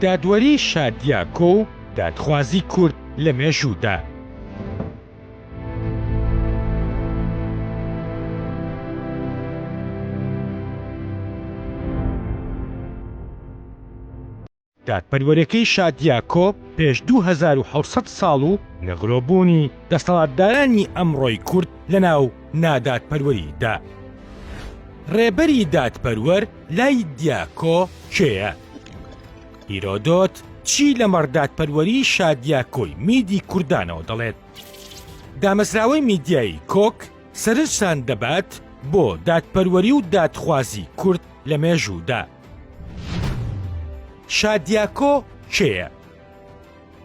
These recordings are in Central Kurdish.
دادوەری شادیاکۆ و دادخوازی کورد لە مێژوودا. دادپەروەرەکەی شادیاکۆ پێش دوو هەزار و حەوت سەد ساڵ و نغرۆبوونی دەسەڵاتدارانی ئەمڕۆی کورد لەناو نادادپەروەریدا. ڕێبەری دادپەروەر، لای دیاکۆ کێیە؟ هیرۆدۆت چی لەمەڕ دادپەروەری شادیاکۆی میدی کوردانەوە دەڵێت؟ دامەزراوەی میدیایی کۆک سەرنجتان دەبات بۆ دادپەروەری و دادخوازی کورد لە مێژوودا. شادیاکۆ کێیە؟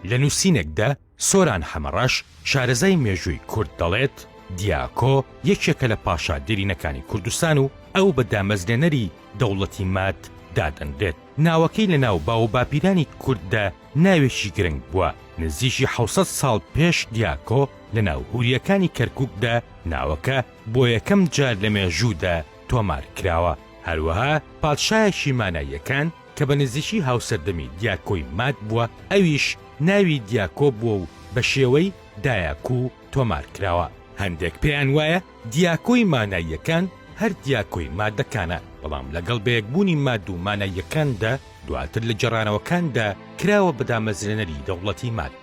لە نووسینێکدا سۆران حەمەڕەش، شارەزای مێژووی کورد دەڵێت، دیاکۆ یەکێکە لە پاشا دێرینەکانی کوردستان و ئەو بە دامەزرێنەری دەوڵەتی ماد دادەنرێت. ناوەکەی لە ناو باو و باپیرانی کورددا ناوێکی گرنگ بووە. نزیکی حەوت سەد ساڵ پێش دیاکۆ لە ناو هورییەکانی کەرکووکدا ناوەکە بۆ یەکەم جار لە مێژوودا تۆمار کراوە. هەروەها پادشایەکی ماناییەکان، کە بە نزیکی هاوسەردەمی دیاکۆی ماد بووە، ئەویش ناوی دیاکۆ بووە و بە شێوەی، دایاکو، تۆمار کراوە. هەندێک پێیان وایە دیاکۆی ماناییەکان هەر دیاکۆی مادەکانە، بەڵام لەگەڵ بەیەکبوونی ماد و ماناییەکاندا، دواتر لە گێڕانەوەکاندا کراوە بە دامەزرێنەری دەوڵەتی ماد.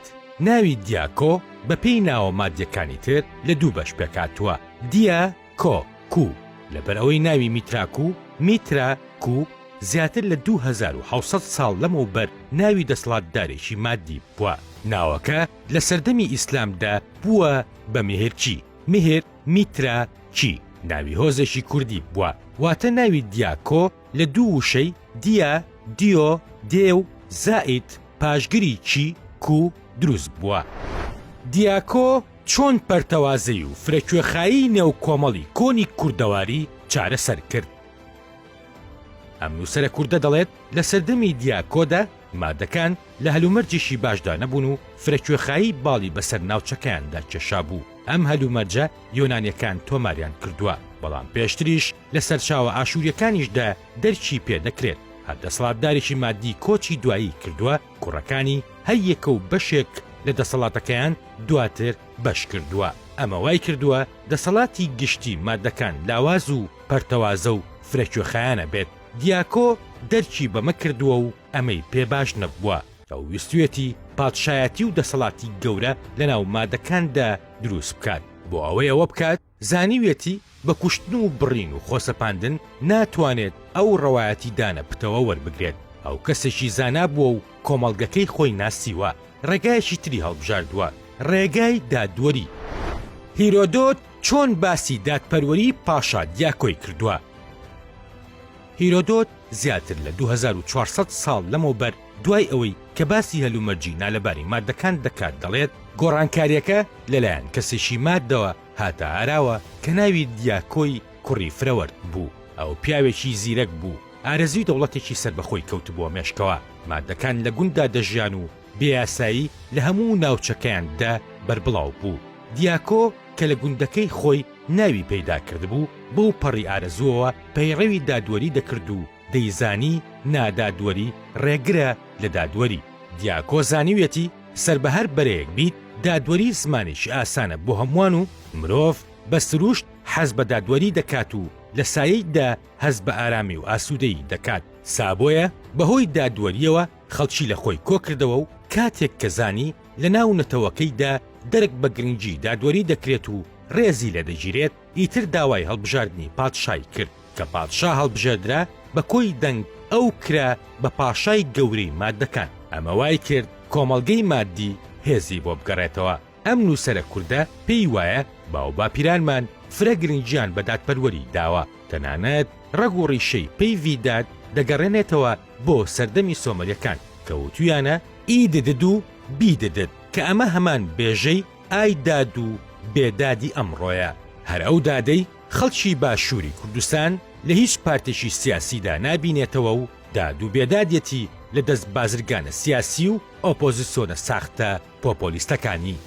ناوی دیاکۆ بە پێی ناوە مادیەکانی تر لە دوو بەش پێکهاتووە، دیا، کۆ، کو، لەبەر ئەوەی ناوی میترا کو، Mitra، کو، زیاتر لە دوو هەزار و حەوت سەد ساڵ لەمەوبەر ناوی دەسڵاتدارێکی مادی بووە. ناوەکە لە سەردەمی ئیسلامدا بووە بە مێهرچی، Mihir Mitra Chi، ناوی هۆزێکی کوردی بووە، واتە ناوی دیاکۆ لە دوو وشەی، دیا، دیۆ، دێو، زائید، پاشگری، چی، کو، دروست بووە. دیاکۆ، چۆن پەرتەوازەی و فرەکوێخایی نێو کۆمەڵی کۆنی کوردەواری چارەسەر کرد؟ ئەم نووسەرە کوردە دەڵێت لە سەردەمی دیاکۆدا مادەکان لە هەلومەرجێکی باشدا نەبوون و فرەکوێخایی باڵی بەسەر ناوچەکەیاندا کێشابوو، ئەم هەلومەرجە یۆنانیەکان تۆماریان کردووە، بەڵام پێشتریش لە سەرچاوە ئاشووریەکانیشدا دەرکی پێدەکرێت هەر دەسەڵاتدارێکی مادی کۆچی دوایی کردووە، کوڕەکانی هەر یەکە و بەشێک لە دەسەڵاتەکەیان دواتر بەش کردووە، ئەمە وای کردووە دەسەڵاتی گشتی مادەکان لاواز و پەرتەوازە و فرەکوێخایەنە بێت، دیاکۆ دەرکی بەمە کردووە و ئەمەی پێ باش نەبووە، ئەو ویستویەتی پادشایەتی و دەسەڵاتی گەورە لەناو مادەکاندا دروست بکات، بۆ ئەوەی ئەوە بکات، زانیویەتی بە کوشتن و بڕین و خۆسەپاندن ناتوانێت ئەو ڕەوایەتی دانە پتەوە وەربگرێت، ئەو کەسێکی زانا بووە و کۆمەڵگەکەی خۆی ناسیوە، ڕێگایەکی تری هەڵبژاردووە، ڕێگای دادوەری. هیرۆدۆت چۆن باسی دادپەروەری پاشا دیاکۆی کردووە؟ هیرۆدۆت زیاتر لە دوو هەزار و چوار سەد ساڵ لەمەوبەر دوای ئەوەی کە باسی هەلومەرجی نالەباری ماددەکان دەکات دەڵێت، گۆڕانکارییەکە لەلایەن کەسێکی ماددەوە هاتە ئاراوە کە ناوی دیاکۆی کوڕی فرەوەرد بوو، ئەو پیاوێکی زیرەک بوو، ئارەزووی دەوڵەتێکی سەربەخۆی کەوتبووە مێشکەوە، ماددەکان لە گونددا دەژیان و بێیاسایی لە هەموو ناوچەکەیان دە بەربڵاو بوو، دیاکۆ کە لە گوندەکەی خۆی ناوی پەیدا کردبوو، بەو پەڕی ئارەزووەوە پەیڕەوی دادوەری دەکرد و، دەیزانی نادادوەری ڕێگرە لە دادوەری. دیاکۆ زانیویەتی سەر بە هەر بەرەیەک بیت دادوەری زمانێکی ئاسانە بۆ هەمووان و مرۆڤ بە سرووشت حەز بە دادوەری دەکات و لە سایەیدا هەست بە ئارامی و ئاسوودەیی دەکات. سا بۆیە بە هۆی دادوەرییەوە خەڵکی لە خۆی کۆ کردەوە و کاتێک کە زانی لە ناو نەتەوەکەیدا دەرک بە گرنگی دادوەری دەکرێت و ڕێزی لێ دەگیرێت، ئیتر داوای هەڵبژاردنی پادشای کرد کە پادشا هەڵبژێردرا بە کۆی دەنگ ئەو کرا بە پاشای گەورەی مادەکان ئەمە وای کرد کۆمەڵگەی مادی هێزی بۆ بگەڕێتەوە ئەم نووسەرە کوردە پێی وایە باوباپیرانمان فرە گرنگیان بە دادپەروەری داوە تەنانەت ڕەگ و ڕیشەی پەیڤی داد دەگەڕێنێتەوە بۆ سەردەمی سۆمەریەکان کە وتویانە ئی ددد و بی ددد کە ئەمە هەمان بێژەی ئای داد و بێدادی ئەمڕۆیە. هەر ئەو دادەی خەڵکی باشووری کوردستان لە هیچ پارتێکی سیاسیدا نابینێتەوە و داد و بێدادیەتی لە دەست بازرگانە سیاسی و ئۆپۆزسیۆنە ساختە پۆپۆلیستەکانی.